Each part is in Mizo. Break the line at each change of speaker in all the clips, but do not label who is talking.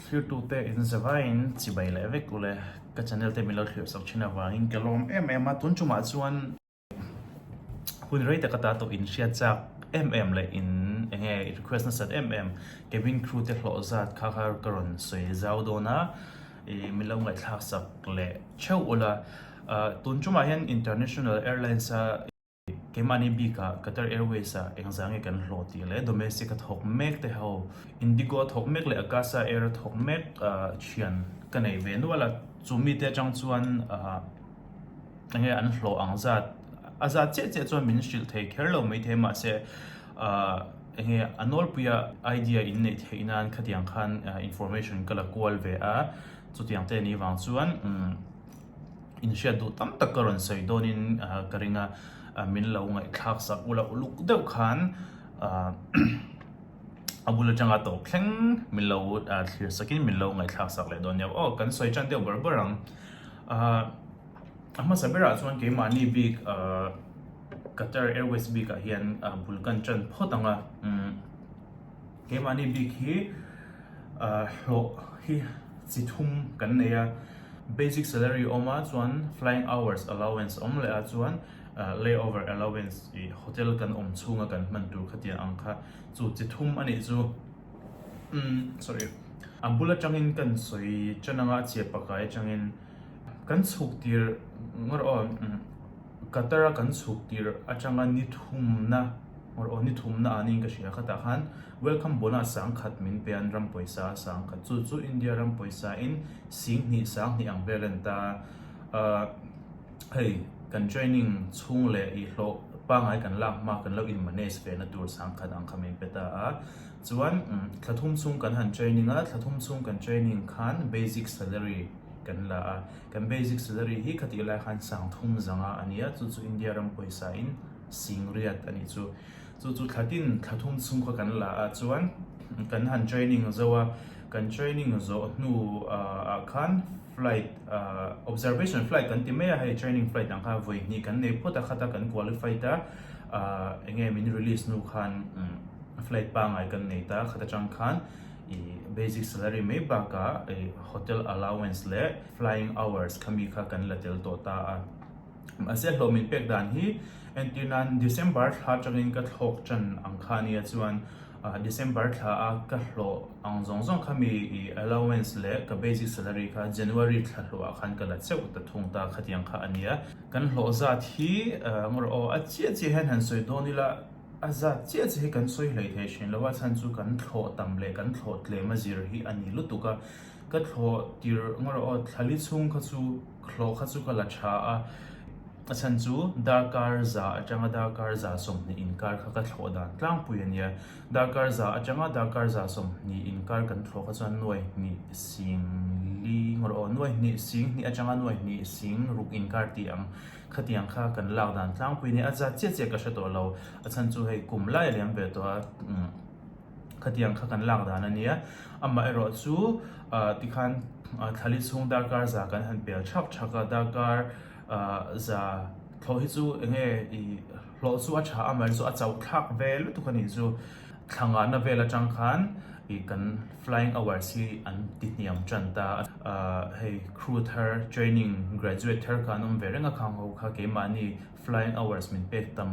Thirtu te in zavai in chibai leh vek ule, ka channel te min lo thlir chawk thin avangin ka lawm em em a, tun chu mah chuan hun rei taka ta tawh in hriat chak em em leh in eng nge request nasat em em cabin crew te hlawh zat kha kha ka rawn sawi zau dawn a, ih min lo ngaihthlak sak leh theuh ula, tun chu mah hian international airlines a. keimahni bikah Qatar Airways-a engzah nge kan hlawh tih leh domestic a thawk mek te ho, Indigo a thawk mek leh Akasa Air a thawk mek thian ka neih ve nual a, chu mite atang chuan enge an hlawh ang zat a zat chiah chiah chuan min hrilh thei kher lo mai thei mahse enge a nawlpuia idea in neih theih nan khatiang khan information ka la kual ve a, chutiang te ni vang chuan. inhriat duh tam tak ka rawn sawi dawnin ka ring a, min lo ngaihthlak sak ula uluk deuh khan a bul atanga tawp thleng min lo thlir sakin min lo ngaihthlak sak leh dawn nia, aw kan sawi chan deuh ber ber ang a hmasa berah chuan keimahni bik Qatar Airways bikah hian bul kan tan phawt ang a. Keimahni bik hi hlawh hi chi thum kan nei a, basic salary awm a chuan flying hours allowance awm leh a chuan lay over allowance ih hotel kan awm chhunga kan hman tur khatiang ang kha chu chi thum anih chu sorry a bul atangin kan sawi tan anga chhiah pakai atangin kan chhuk tir ngawt aw. Qatar a kan chhuk tirh atanga ni thumna or aw ni thumna ah niin ka hria khatah khan welcome bona sang khat min pe an ram pawisa a sang khat chu chu India ram pawisa in sing hnih sang hnih ang vel a ni ta a hei kan training chhung leh ih hlawh pangai kan lak hma kan lo in manage ve na tur sang khat ang kha min pe ta a chuan thla thum chhung kan han training a thla thum chhung kan training khan basic salary kan la a. Kan basic salary hi ka tih lai khan sang thum zanga a nia, chu chu India ram pawisa in sing riat a nih chu. Chu chu thla tin thla thum chhung kha kan la ah chuan kan han training zo a, kan training zawh hnu ah khan flight ah observation flight kan ti mai a, hei training flight ang kha vawi hnih kan nei phawt a khat a kan qualify ta ah eng nge min release hnu khan flight pangai kan nei ta khat atang khan, Basic salary mai baka hotel allowance leh flying hours kha mi kha kan la tel tawh ta a. Mahse hlawh min pek dan hi entir nan December thla tangin ka thlawk tan ang kha nia chuan December thla a ka hlawh ang zawng zawng kha mi allowance leh ka basic salary kha January thla hlawh ah khan ka la cheu ta thung ta khatiang kha a nia. Kan hlawh zat hi ngaw rawh aw a chiah chiah hian han sawi dawn ila. A zat chiah chiah hi kan sawi hlei thei thin lo a, chhan chu kan thlawh tam leh kan thlawh tlem a zir hi a ni lutuk a. Ka thlawh tir ngaw rawh aw, thla li chhung kha chu, thlawh kha chu ka la tha a, a chhan chu darkar za atanga darkar za sawmhnih inkar kha ka thlawh dan tlangpui a nia, darkar za atanga darkar za sawmhnih inkar kan thlawh kha chuan nuai hnih sing li ngaw rawh aw, nuai hnih sing hnih atanga nuai hnih sing ruk inkar tih ang. Khatiang kha kan lak dan tlangpui nia, a zat chiah chiah ka hre tawh lo, a chhan chu hei kum lai a liam ve tawh a, khatiang kha kan lak dan a nia, amah erawh chu tikhan thla li chhung darkar za kan han pel chhak chhak a, darkar za thawh hi chu eng nge i hlawh chu a tha a, amaherawhchu a chauhthlak ve lutuk a nih chu. Thla ngahna vel atang khan ih kan flying hours hi an ti hniam tan ta a, ah hei crew thar training graduate thar kha an awm ve reng a khang ho kha keimahni flying hours min pek tam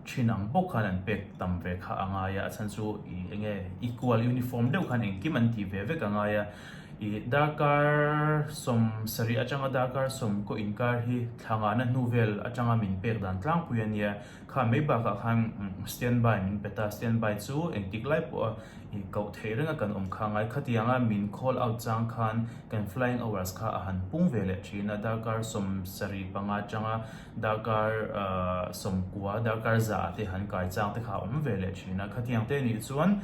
thin ang bawk khan an pek tam ve kha a ngai a, a chhan chu ih eng nge equal uniform deuh khan engkim an tih ve vek a ngai a, ih darkar sawm sarih atanga darkar sawm kaw inkar hi thla ngahna hnu vel atanga min pek dan tlangpui a nia. Kha mai bakah khan standby min pe ta, standby chu engtik lai pawha ih koh theih renga kan awm kha. Ngai kha tianga min call out chang khan kan flying hours kha a han pung ve leh thin a, darkar sawm sarih panga changa darkar sawm kua, darkar zah te han kai chang te kha a awm ve leh thin a. Khatiang te nih chuan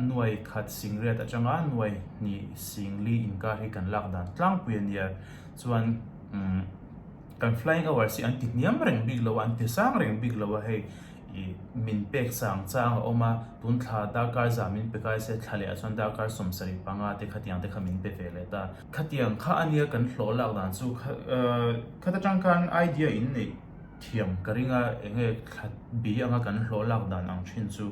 nuai khat singret atanga nuai hnih singli inkar hi kan lak dan tlangpui a nia chuan umm. Kan flying hours hi an ti hniam reng bik lo a, an ti sang reng bik lo a, hei ih min pek chang chang a awm a, tun thla darkar zah min pe kai se, thla leh ah chuan darkar sawm sarih panga te khatiang te kha min pe ve leh ta. Khatiang kha a nia kan hlawh lak dan chu kha khat atang khan idea in neih thiam ka ring a, eng nge thla bi anga kan hlawh lak dan ang thin chu.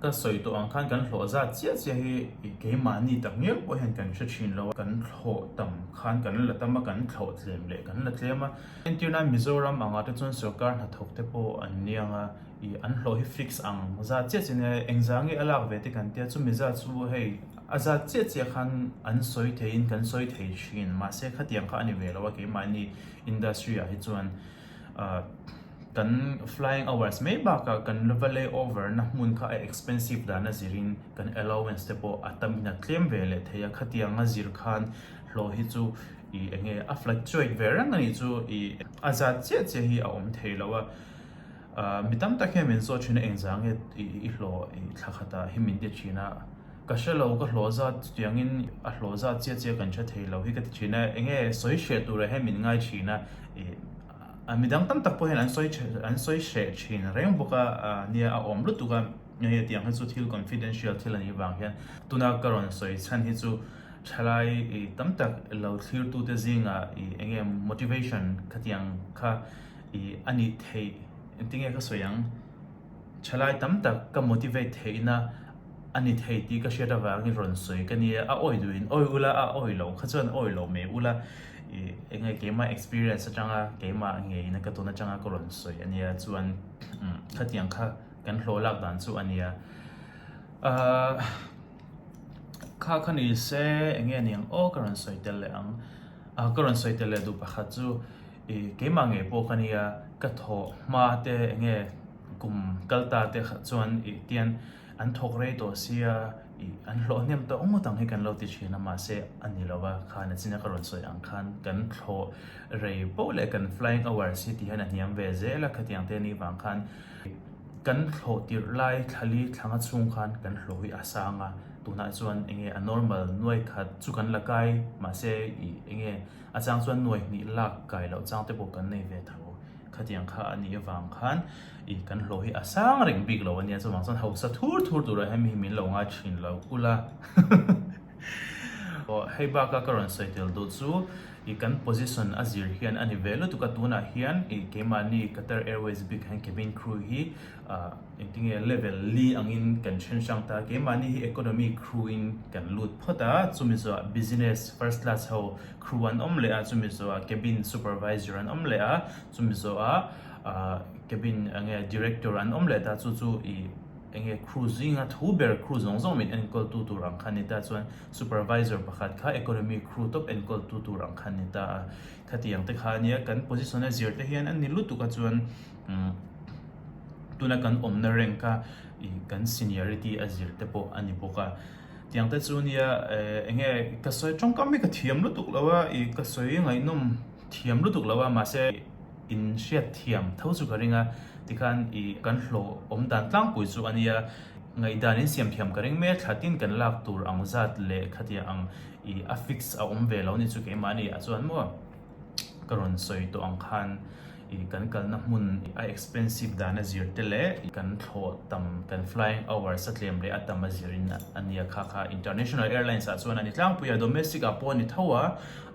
Ka sawi tawh ang khan kan hlawh zat chiah chiah hi keimahni tak miau pawh hian kan hre thin lo a, kan hlawh tam khan kan la tam a, kan hlawh tlem leh kan la tlem a. Entir nan Mizoram anga te chuan sawrkar hnathawk te pawh an niang a, i an hlawh hi fix ang zat chiah chiah a nia, eng zah nge a lak ve te kan tia chumi zat chu hei a zat chiah chiah khan an sawi thei in kan sawi thei thin mahse khatiang kha a ni ve lo a keimahni industry ah hi chuan. Kan flying hours mai bakah kan va lay over na hmun kha a expensive dan a zir in kan allowance te pawh a tam in a tlem ve leh thei a khatiang a zir khan hlawh hi chu ih eng nge a fluctuate ve reng a nih chu ih a zat chiah chiah hi a awm thei lo a mi tam tak hian min zawt thin a eng zah nge ih i hlawh thla khatah hi min ti thin a. Ka hre lo, ka hlawh zat chutiangin a hlawh zat chiah chiah kan hre thei lo hi ka ti thin a, eng nge sawi hreh turah hian min ngai thin a, ih mi dang tam tak pawh hian an sawi hreh an sawi hreh thin reng bawk a nia a awm lutuk a, eng nge tiang hi chu thil confidential thil a nih vang hian tuna ka rawn sawi chhan hi chu thalai ih tam tak lo thlir tu te zinga ih eng nge motivation khatiang kha ih a nih theih ti nge ka sawi ang. Thalai tam tak ka motivate theihna a ni thei tih ka hriat avangin rawn sawi ka nia. A awi duh in awi ula, a awi lo kha chuan awi lo mai ula. Ih eng nge keimah experience atanga keimah ngeiin ka tun atanga ka rawn sawi a nia chuan umm khatiang kha kan hlawh lak dan chu a nia. Ahh kha kha ni se eng nge niang aw ka rawn sawi tel leh ang, ka rawn sawi tel leh duh pakhat chu. I keimah ngei pawh ka nia, ka thawh hma te enge kum kal ta te khat chuan i tian an thawk rei tawh sia i an hlawh hnem tawh ngawt ang hi kan lo ti thin a mahse a ni lo va khan a china ka rawn sawi ang khan kan thawh rei poh leh kan flying hours hi ti hian a hniam ve zel a khatiang te ni vang khan kan thawh tirh lai thla li thlang a chhung khan kan hlawh hi a sang a tunah chuan enge a normal nuai khat chu kan la kai mahse i enge. A chang chuan nuai hnih lak kai loh chang te pawh kan nei ve tho. Khatiang kha a nih avang khan ih kan hlaw hi a sang reng bik lo a nia chuvang chuan hausa thur thur turah hian mi hi min lo ngai thin lo ul a. Aw hei baka ka rawn sawi tel duh chu ih kan position a zir hian a ni ve lutuk a tunah hian ih keimahni Qatar Airways bik ah hian cabin crew hi Ahh engtinge level li angin kan hrenshrang ta a, keimahni hi economy kruin kan lut phawt a, chumizawah business first class ho kru an awm leh a, chumizawah cabin supervisor an awm leh a, chumizawah ahh cabin enge director an awm leh ta chu chu ih enge kru zinga thu ber kru zawng zawng min enkawltu tur ang kha ni ta chuan supervisor pakhat kha economy kru tawp enkawltu tur ang kha ni ta a, khatiang te kha a nia kan position a zir te hian a ni lutuk a chuan. tuna kan awmna rank a kan seniority a zir te pawh a ni bawk a tiang te chu nia eng nge ka sawi tawngkam hi ka thiam lutuk lo a i ka sawi ngaihnawm thiam lutuk lo a mahse in hriatthiam tho chu ka ring a tikhan i kan hlawh awm dan tlangpui chu a nia ngaihdan in siam thiam ka ring mek a thlatin kan lak tur ang zat leh thlatia ang i a fix a awm ve lo ni chu keimah a ni ah chuan maw ka rawn sawi tawh ang khan. kan kalna hmun a expensive dana zir te leh kan thlawh tam kan flying hours a tlem leh a tam a zir in a nia kha kha international airlines ah chuan a ni tlangpui a domestic ah pawh a ni tho a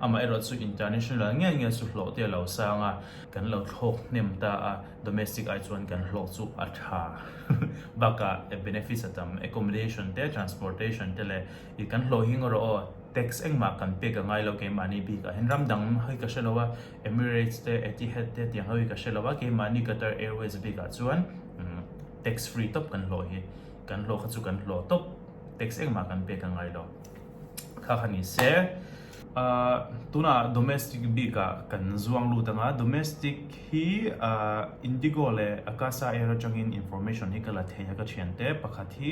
amah erawh chu international ngial ngial chu hlawh te a lo sang a kan lo thlawk hnem ta a domestic ai chuan kan hlawk chu a tha baka benefits a tam accommodation te transportation te leh i kan hlawh hi ngaw rawh aw tax engmah kan peak a ngai lo keimah ni bik ah hian ram dang hi ka hre lo a. Emirates te, Etihad te tiang ho hi ka hre lo a, keimahni Qatar Airways bikah chuan tax free tawp kan hlawh hi. Kan hlawh kha chu kan hlawh tawp, tax engmah kan pek a ngai lo kha kha ni se. Tuna domestic bikah kan zuang lut anga, domestic hi Indigo leh Akasa Air atangin information hi ka la thei a ka thiante, pakhat hi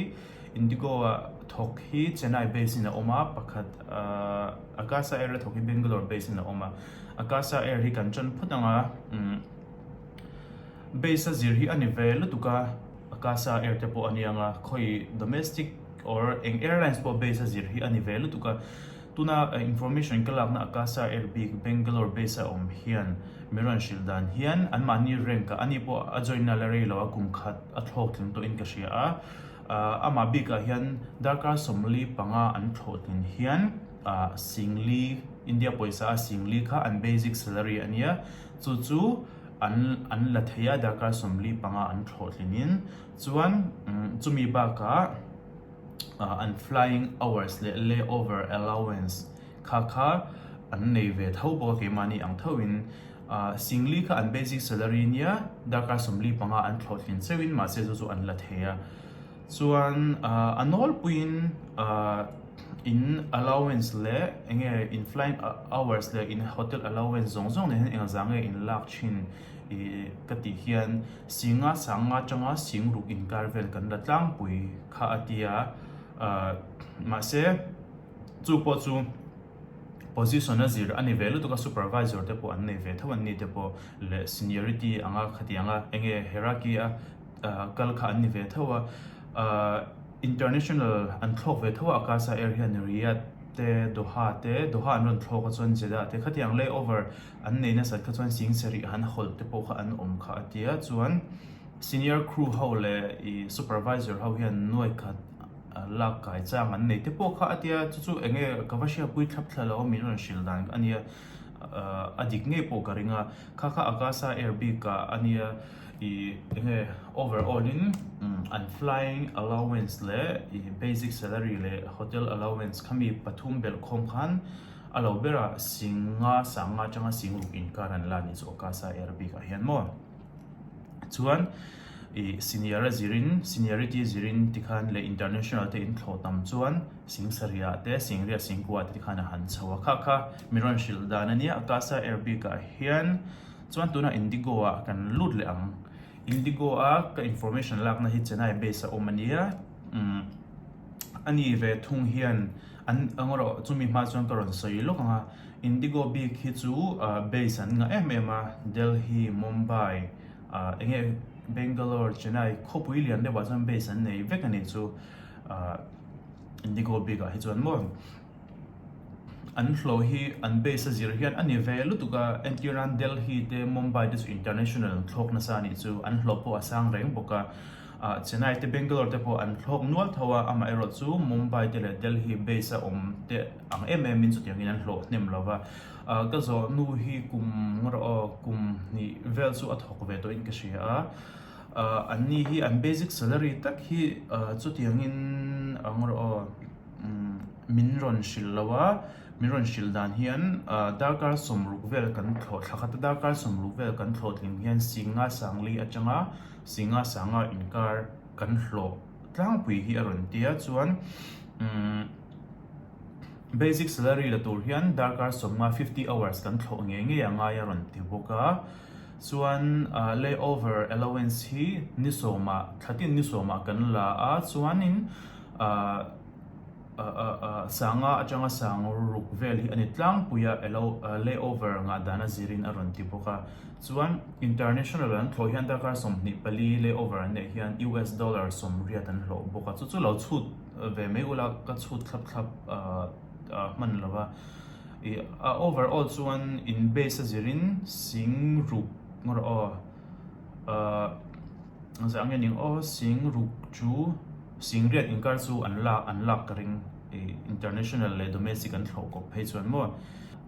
Indigo a thawk hi Chennai base in a awm a, pakhat aah Akasa Air a thawk hi Bangalore base in a awm a, Akasa Air hi kan ṭawn phawt ang a, umm base a zir hi a ni ve lutuk a, Akasa Air te pawh a ni ang a, khawi domestic or eng airlines pawh base a zir hi a ni ve lutuk a, tuna information ka lakna Akasa Air bik Bangalore base a awm hian min rawn hrilh dan hian anmahni rank a ani pawh a join na la rei lo a, kum khat a thlawk tling tawhin ka hria a. Amah bikah hian darkar sawmli panga an thlawh tlin hian singli, India pawisa a singli kha an basic salary a nia, chu chu an la thei a darkar sawmli panga an thlawh tlinin. Chuan chumi bakah an flying hours leh layover allowance kha kha an nei ve tho bawk a keimahni ang thauhin. Singli kha an basic salary nia darkar sawmli panga an thlawhthlin cheuhin mahse chu chu an la thei a. Chuan a nawlpuiin in allowance leh enge in flying hours leh in hotel allowance zawng zawng nen hian engla za nge in lak thin ka tih hian Singa sanga tanga sing ruk inkar vel kan la tlangpui kha a tia. Mahse chu pawh chu. Position a zir a ni ve lutuk a, supervisor te pawh an nei ve tho an ni te pawh leh seniority ang a khatiang a eng nge hierarchy a kal kha an ni ve tho a, ahh international an thlawk ve tho a Akasa Air hian Riyadh te Doha te, Doha an rawn thlawk a chuan Jeddah te khatiang lay over an nei nasat kha chuan sing sarih han a hawlh te pawh kha an awm kha a tia chuan senior crew ho leh ih supervisor ho hian nuaih khat Lak kai chang an nei te pawh kha a tia, chu chu enge ka va hria pui thlap thla lo, min rawn hrilh dan a nia, a dik ngei pawh ka ring a, kha kha Akasa Air bik ka a nia, ih enge over all in an flying allowance leh ih basic salary leh hotel allowance kha mi pathum belh khawm khan a lo ber a, sing nga sang nga tanga sing ruk inkar an la ni chu Akasa Air bik ah hian maw. chuan ih senior a zir in seniority a zir in ti khan leh international te in thlawh tam chuan singsarih ah te sengriah sengkuah ah te tikhan a han chho a kha kha mi rawn hrilh dan a nia akasa air bik ah hian chuan tun ah indigo ah kan lut leh ang indigo a ka information lak na hi chennai base a awm a nia umm ani ve thung hian an engawh rawh chu mi hma chuan ka rawn sawi lawk ang a. Indigo bik hi chu base an ngah em em a, Delhi, Mumbai, eng nge Bangalore, Chennai khawpui lian deuhah chuan base an nei vek a nih chu Indigo bik ah hi chuan maw an hlaw hi an base a zir hian a ni ve lutuk a, entir nan Delhi te Mumbai te chu international an thlawk nasa a nih chu an hlaw pawh a sang reng bawk a, Chennai te Bangalore te pawh an thlawk nual tho a, amaherawhchu Mumbai te leh Delhi base a awm te. Ang em em in chutiangin an hlawh hnem lo va, ka zawh nu hi kum rawh aw, kum hnih vel chu a thawk ve tawhin ka hria a, an ni hi an basic salary tak hi chutiangin ang rawh aw min rawn hrilh lo a, min rawn hrilh dan hian darkar sawm ruk vel kan thlawh thla khat a, darkar sawm ruk vel kan thlawhtling hian Singha Sangli atanga Singha Sangha inkar kan hlawh. tlangpui hi a rawn ti a, chuan umm basic salary la tur hian darkar sawmnga fifty hours kan thlawh ngei ngei a ngai a rawn ti bawk a, chuan ahh lay over allowance hi ni sawmah thlatin ni sawmah kan la a chuanin ahh. Sanga atanga sang ruk vel hi a ni tlangpui a, layover ngah dan a zir in a rawn ti bawk a. Chuan international an thlawh hian darkar sawmhnih pali layover an neih hian US dollar sawmriat an hlawh bawk a, chu chu lo chhut ve mai ula ka chhut thlap thlap a hman lo va. Overall chuan in base a zir in sing ruk rawh aw. Ahh zah nge ning aw sing ruk chu sing riat in kar chu an lak an lak ka ring ih international leh domestic an hlawh kawp phei chuan maw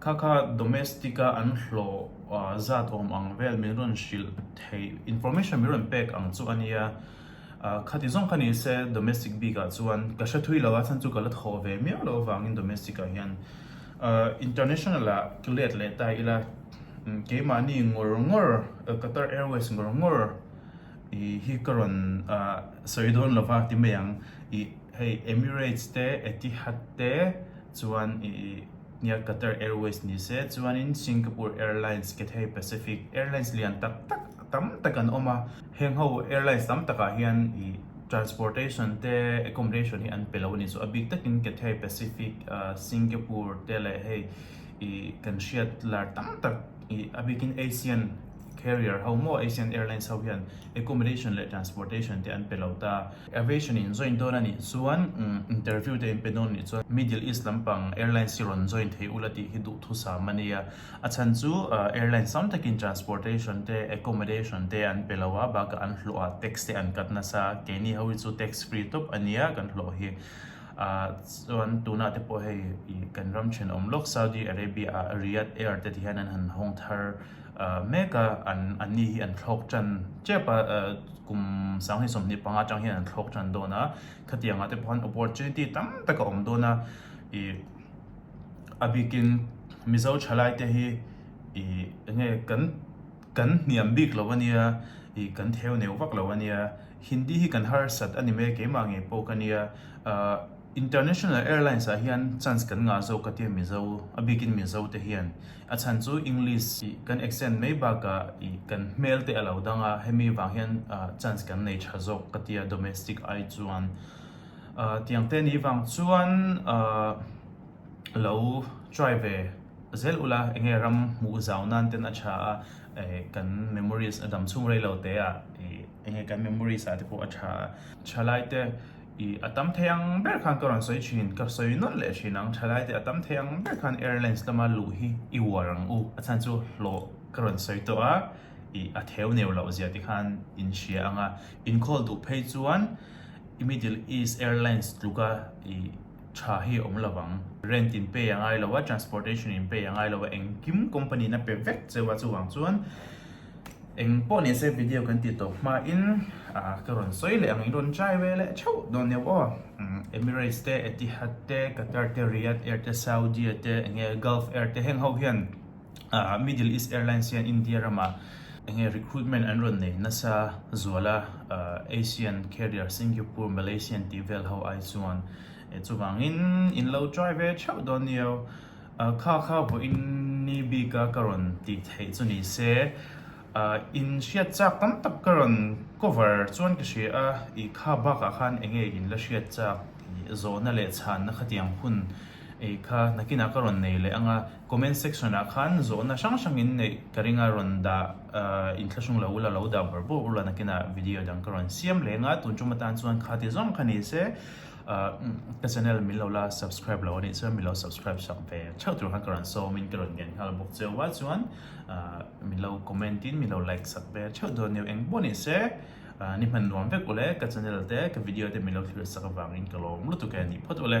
kha kha domestic a an hlawh ahh zat awm ang vel min rawn hrilh theih information min rawn pek ang chu a nia. Ahh, khati zawng kha ni se domestic bikah chuan ka hre thui lo a, chhan chu ka la thaw ve miau lo avangin domestic ah hian ahh international ah ka let leh ta ila keimahni ngawr ngawr Qatar Airways ngawr ngawr ihh hi ka rawn ahh sawi dawn lo va ti mai ang ihh hei Emirates te Etihad te chuan ihh. Nia Qatar Airways ni se chuanin Singapore Airlines, Cathay Pacific, airlines lian tak tak tam tak an awm a, heng ho airlines tam takah hian ih transportation te accommodation hi an pe lo a ni. Chu a bik takin Cathay Pacific, Singapore te leh hei ih kan hriat lar tam tak ih a bikin Asian. carrier ho maw Asian Airlines ho hian accommodation leh transportation te an pe lo ta. Aviation in join dawn a nih chuan interview te in pe dawn a nih chuan Middle East lampang airlines hi rawn join thei ula tih hi duhthusam a nia. A chhan chu airlines tam takin transportation te accommodation te an pe lo a bakah an hlawh a tax te an cut nasa a keini ho hi chu tax free tawp a nia kan hlawh hi ah chuan tunah te pawh hei kan ram thin awm lawk Saudi Arabia ah Riyadh Air te ti hian an han hawng thar. mek a, an an ni hi an thlawk tan tep a, kum sanghnih sawmhnih panga atang hian an thlawk tan dawn a, khatianga te pawhan opportunity tam tak a awm dawn a, ih a bikin Mizo tha lai te hi ih eng nge kan kan hniam bik lo ania, ih kan theu neuh vak lo ania, Hindi hi kan harsat a ni mai keimah ngei pawh ka nia, aa. International Airlines ah hian chance kan ngah zawk ka tia Mizo a bikin Mizo te hian a chhan chu English ih kan extend mai bakah ih kan hmel te a lo dang a hemi vang hian chance kan nei tha zawk ka tia domestic ai chuan ah tiang te ni vang chuan ah lo try ve zel ula eng nge ram hmuh zau nan ten a tha a eh kan memories a dam chhung rei lo te ah ih eng nge kan memories ah te pawh a tha a tha lai te. I a tam thei ang ber khan ka rawn sawi thin, ka sawi nawlh leh thin ang, thalai te a tam thei ang ber khan airlines lama luh hi i uar ang u, a chhan chu hlawh ka rawn sawi tawh a, i a theu neu loh zia te khan in hria ang a, in call duh phei chuan i middle east airlines tluka i tha hi awm lo vang, rent in pay a ngai lo a, transportation in pay a ngai lo a, engkim company na pe vek cheu a chuvang chuan, Eng pawh nise video kan ti tawh hma in ka rawn sawi leh ang i rawn try ve leh theuh dawn neuh aw. Emirates te, Etihad te, Qatar te, Riyadh Air te, Saudi te, eng nge Gulf Air te heng ho hian Middle East Airlines hian India rama eng nge recruitment an rawn nei nasa zual a. Asian Carrier, Singapore, Malaysian tih vel ho ai chuan chuvangin in lo try ve theuh dawn ni au. A kha kha vawh in ni bik a ka rawn tih theih chu ni se in hriat chak tam tak ka rawn cover chuan ka hria a i kha bak ah khan eng nge in la hriat chak tih zawh na leh chhan na khatiang hun ei kha nakin ah ka rawn nei leh ang a comment section ah khan zawh na hrang hrang in neih ka ring a rawn dah ah in thlahrung lo ula lo dah ber bawk ula nakin ah video dang ka rawn siam leh ang a tun chu ma tan chuan kha ti zawng kha ni se Ahh ka channel min lo la subscribe lo anih chuan min lo subscribe chak ve theuh tur khan ka rawn sawm in ka rawn ngen nghal bawk che va chuan ahh min lo comment in min lo like chak ve theuh dawn nia eng baw nih se ahh ni hman nuam vek ule ka channel te ka video te min lo thlir chak avangin ka lawm lutuk e ni phawt ule.